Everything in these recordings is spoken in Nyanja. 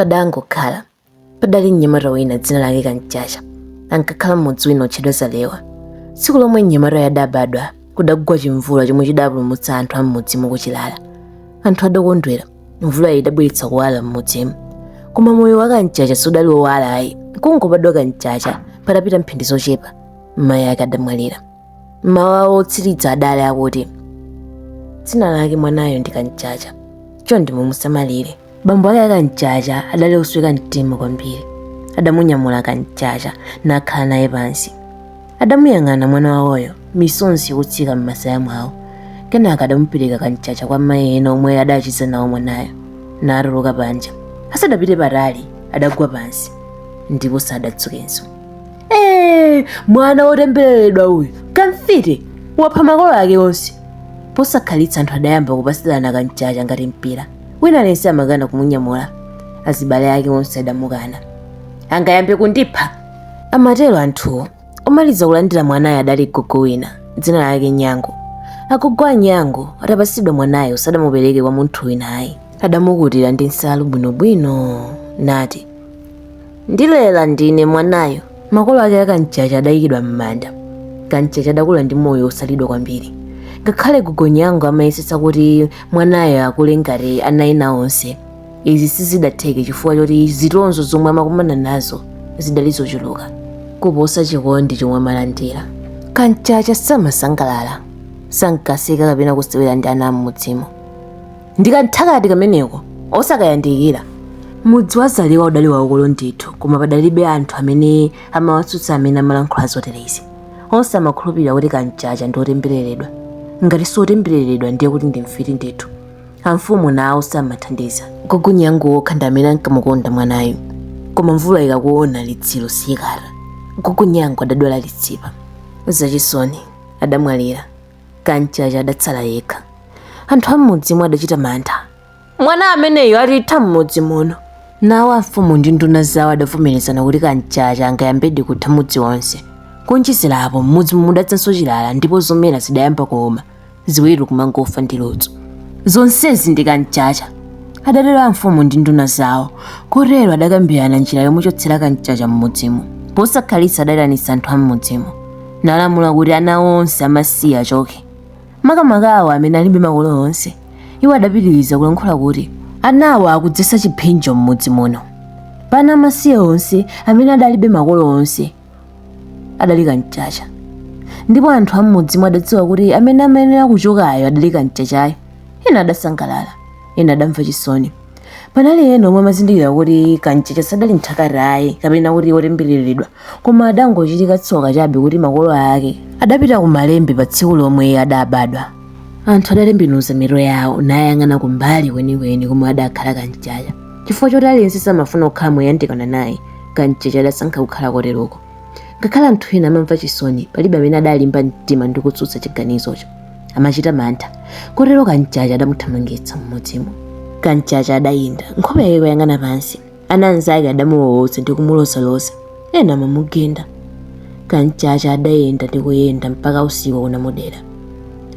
Padangokhala padali mnyamata wina dzina lake Kamchacha ankakhala m'mudzi wina otchedwa Zalewa. Tsiku lomwe mnyamatayo adabadwa kudagwa chimvula chomwe chidapulumutsa anthu a m'mudzimo kuchilala. Anthu adakondwera mvulayi idabweretsa kuwala m'mudzimo. Koma moyo wa Kamchacha sudali wowala ayi. Kungobadwa Kamchacha patapita mphindi zochepa mayi ake adamwalira. mawu awo otsiriza adali akuti dzina lake mwanayo ndi kamchacha chonde mumusamalire bambo ake akamchacha adali osweka mtima kwambiri adamunyamula kamchacha nakhala naye pansi adamuyang'ana mwana wawoyo misonzi yokutsika m'masaya mwawo kenaka adamupereka kamchacha kwa mayi ena omwe adachiza nawo mwanayo natuluka panja asadapite patali adagwa pansi ndipo sadadzukenso mwana wotembereredwa uyu kamfiti wapha makolo ake onse posakhalitsa anthu adayamba kupatsirana kamchacha ngati mpira wina aliyense amakana kumunyamula azibale ake onse adamukana angayambe kundipha amatero anthuwo omaliza kulandira mwanayo adali gogo wina dzina lake nyango agogo a nyango atapatsidwa mwanayo sadamupereke kwa munthu wina ayi adamukutira ndi nsalu bwinobwino nati ndilela ndine mwanayo makolo ake akamchacha adayikidwa m'manda kamchacha adakula ndi moyo wosalidwa kwambiri ngakhale gogo nyango amayesetsa kuti mwanayo akule ngati ana ena onse izi sizidatheke chifukwa choti zitonzo zomwe amakumana nazo zidali zochuluka kuposa chikondi chomwe amalandira kamchacha samasangalala sankaseka kapena kusewera ndi ana am'mudzimo ndi kamthakati kameneko osakayandikira mudzi wa zalewa udali waukulu ndithu koma padalibe anthu amene amawatsutsa amene amalankhula zoterezi onse amakhulupirira kuti kamchacha ndi otembereredwa ngati si otembereredwa ndiye kuti ndi mfiti ndithu amfumu nawo samathandiza gogo nyango okha ndi amene ankamukonda mwanayu koma mvula ikakuona litsiro siyikata gogo nyango adadwala litsipa zachisoni adamwalira kamchacha adatsala yekha anthu am'mudzimo adachita mantha mwana ameneyo atitha m'mudzi muno nawo amfumu ndi nduna zawo adavomerezana kuti kamchacha angayambedi kutha mudzi wonse kuonjezera apo m'mudzi mudadzanso chilala ndipo zomera zidayamba kuuma ziweto kumangofa ndi ludzu zonsezi ndi kamchacha adatero amfumu ndi nduna zawo kotero adakambirana njira yomuchotsera kamchacha m'mudzimo posakhalitsa adaitanitsa anthu am'mudzimo nalamula kuti ana onse amasiye achoke makamaka awo amene alibe makolo onse iwo adapitiriza kulankhula kuti anawo akudzetsa chiphinjo m'mudzi muno pa ana amasiye onse amene adalibe makolo onse adali kamchacha ndipo anthu am'mudzimo adadziwa kuti amene amayenera kuchokayo adali kamchachayo ena adasangalala ena adamva chisoni Panali ena omwe amazindikira kuti Kamchacha sadali mthakati ayi kapena kuti otembereredwa, koma adangochitika tsoka chabe kuti makolo ake adapita ku Malembe pa tsiku lomwe adabadwa. Anthu adatembenuza mitu yawo nayang'ana kumbali kwenikweni komwe adakhala Kamchacha. Chifukwa choti aliyense samafuna kukhala moyandikana naye, Kamchacha adasankha kukhala koteroko. ngakhale anthu ena amamva chisoni palibe amene adalimba mtima ndi kutsutsa chiganizocho amachita mantha kotero kamchacha adamuthamangitsa m'mudzimo kamchacha adayenda nkhope yake kuyang'ana pansi ana anzake adamuwowoza ndi kumulozaloza ena amamugenda kamchacha adayenda ndi kuyenda mpaka usiku unamudera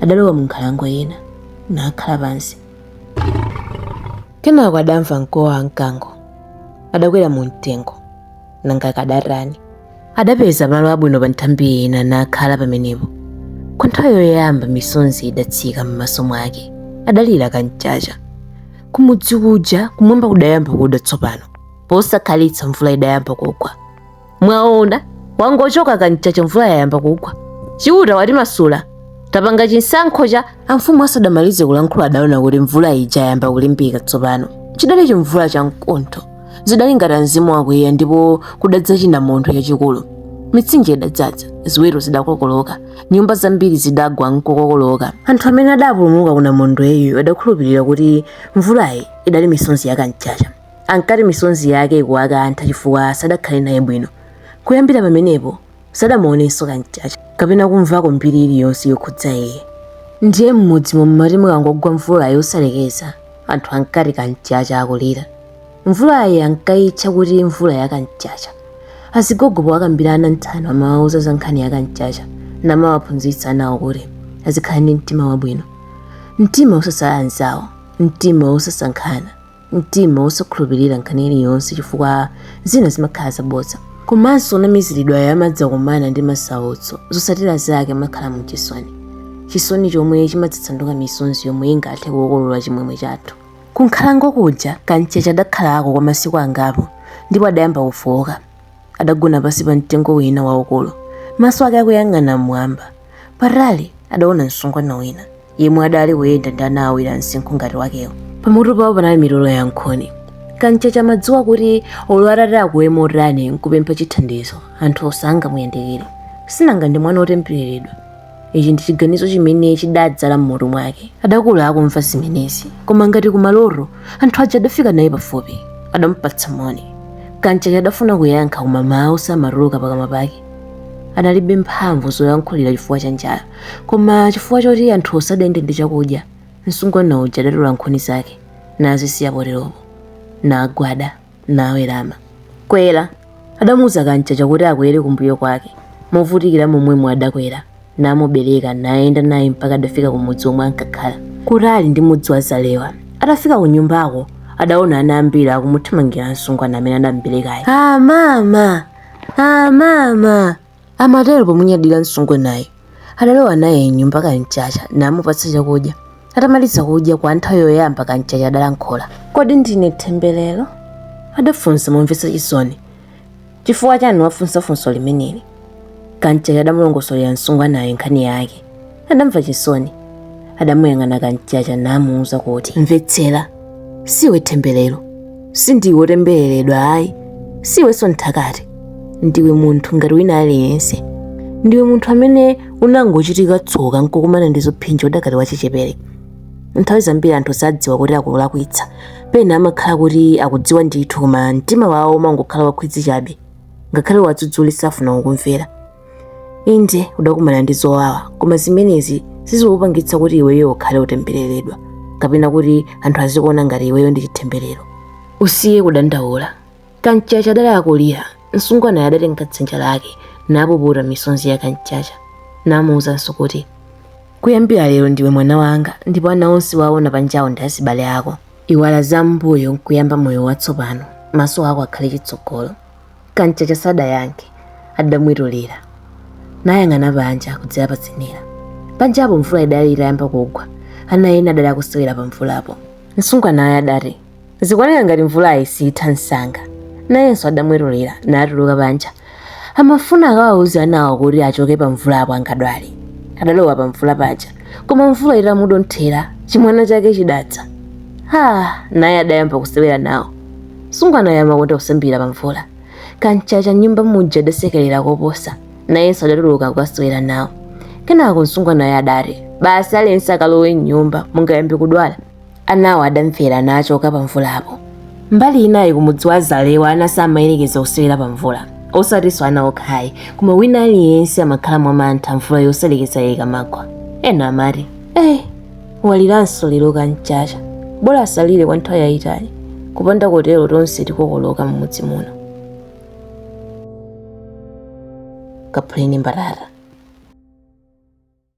adalowa mu nkhalango ina nakhala pansi kenako adamva mkuwo wa mkango adakwera mu mtengo nanga akadatani adapeza malo abwino pa nthambi ina nakhala pamenepo kwa nthawi yoyamba misonzi idatsika m'maso mwake adalira kamchacha kumudzi kuja kumwamba kudayamba kuda tsopano posakhalitsa mvula idayamba kugwa mwaona wangochoka kamchacha mvula yayamba kugwa chiuta watimasula tapanga chisankho cha amfumu asadamalize kulankhula adaona kuti mvula ija yayamba kulimbika tsopano chidali chimvula cha mkuntho zidali ngati mzimu wakwiya ndipo kudadza chinamondwe chachikulu mitsinje idadzadza ziweto zidakokoloka nyumba zambiri zidagwa nkukokoloka anthu amene adapulumuka ku namondweyu adakhulupirira kuti mvulayi idali misonzi ya kamchacha ankati misonzi yake ikuwakantha chifukwa sadakhale naye bwino kuyambira pamenepo sadamuonenso kamchacha kapena kumvako mbiri iliyonse yokhudza iye ndiye m'mudzimo mmati mukangogwa mvula yosalekeza anthu ankati kamchacha akulira mvulayi ankayitcha kuti mvula ya kamchacha azigogo powakambira ana nthano amawauza za nkhani ya kamchacha namawaphunzitsa anawo kuti azikhala ndi mtima wabwino mtima osasala anzawo mtima osasankhana mtima wosakhulupirira nkhani iliyonse chifukwa zina zimakhala zabodza komanso onamiziridwayo amadzakumana ndi masautso zotsatira zake amakhala mu chisoni chisoni chomwe chimadzasanduka misonzi yomwe ingathe kukokolola chimwemwe chathu kunkhalango kuja kamchacha adakhalako kwa masiku angapo ndipo adayamba kufowoka adagona pansi pa mtengo wina waukulu maso ake akuyang'ana mmwamba patali adaona msungwana wina yemwe adali kuyenda ndi ana awiri amsinkhu ngati wakewo pamutu pawo panali mitolo ya nkhuni kamchacha amadziwa kuti olo atati akuwe motani nkupempha chithandizo anthuwo sangamuyandikire sinanga ndi mwana otembereredwa ichi ndi chiganizo chimene chidadzala m'mutu mwake adakula akumva zimenezi koma ngati kumaloto anthu aja adafika naye pafupi adamupatsa moni kamchacha adafuna kuyankha koma mawu samatuluka pakamwa pake analibe mphamvu zoyankhulira chifukwa cha njala koma chifukwa choti anthuwo sadayende ndi chakudya msungwana uja adatola nkhuni zake nazisiya poteropo nagwada nawerama kwera adamuuza kamchacha kuti akwere kumbuyo kwake movutikira momwemo adakwera namubereka nayenda naye mpaka adafika kumudzi omwe ankakhala kutali ndi mudzi wa zalewa atafika ku nyumbako adaona ana ambiri akumuthamangira msungwana amene anamberekayo amama amama amatero pomunyadira msungwanayo adalowa naye mnyumba kamchacha namupatsa chakudya atamaliza kudya kwa nthawi yoyamba kamchacha adalankhula kodi ndine themberero adafunsa momvetsa chisoni chifukwa chani wafunsa funso limeneli kamchacha adamulongosolera msungwanayo nkhani yake adamva chisoni adamuyang'ana kamchacha namuuza kuti mvetsera siiwe themberero sindiwe otembereredwa ayi siwenso mthakati ndiwe munthu ngati wina aliyense ndiwe munthu amene unangochitika tsoka nkukumana ndi zophinja udakali wachichepere nthawi zambiri anthu sadziwa kuti akulakwitsa pena amakhala kuti akudziwa ndithu koma mtima wawo umangokhala wankhwidzi chabe ngakhale uwadzudzule safuna kukumvera Inde, udakumana ndi zowawa, koma zimenezi sizikupangitsa kuti iweyo ukhale wotembereredwa kapena kuti anthu azikuona ngati iweyo ndi chitemberero. Usiye kudandaula. Kamchacha adali akulira, msungwanayo adatenga dzanja lake napuputa misonzi ya Kamchacha namuwuzanso kuti, Kuyambira lero ndiwe mwana wanga ndipo ana onse waona panjawo ndi azibale ako. Iwala zam'mbuyo nkuyamba moyo watsopano, maso ako akhale chitsogolo. kamchacha sadayankhe adamwetulira nayang'ana panja kudzera pazenera panjapo mvula idali itayamba kugwa ana ena adali akusewera pa mvulapo msungwanayo adati zikuoneka ngati mvulayi siyitha msanga nayenso adamwetulira natuluka panja amafuna akawauza anawo kuti achoke pa mvulapo angadwale adalowa pa mvula paja koma mvula itamudonthera chimwana chake chidadza naye adayamba kusewera nawo msungwanayo amakonda kusambira pa mvula kamchacha mnyumba muja adasekerera koposa nayenso adatuluka kukasewera nawo kenako msungwanayo adati basi aliyense akalowe mnyumba mungayambe kudwala anawo adamvera nachoka pa mvulapo mbali inayi kumudzi wa zalewa ana samayerekeza kusewera pa mvula osatinso ana okhayi koma wina aliyense amakhala mwamantha mvula yosalekeza ikamagwa ena amati eyi waliranso lero kam'chacha bola asalire kwa nthawi yayitali kupanda kotero tonse tikokoloka m'mudzi muno kaphuleni mbatata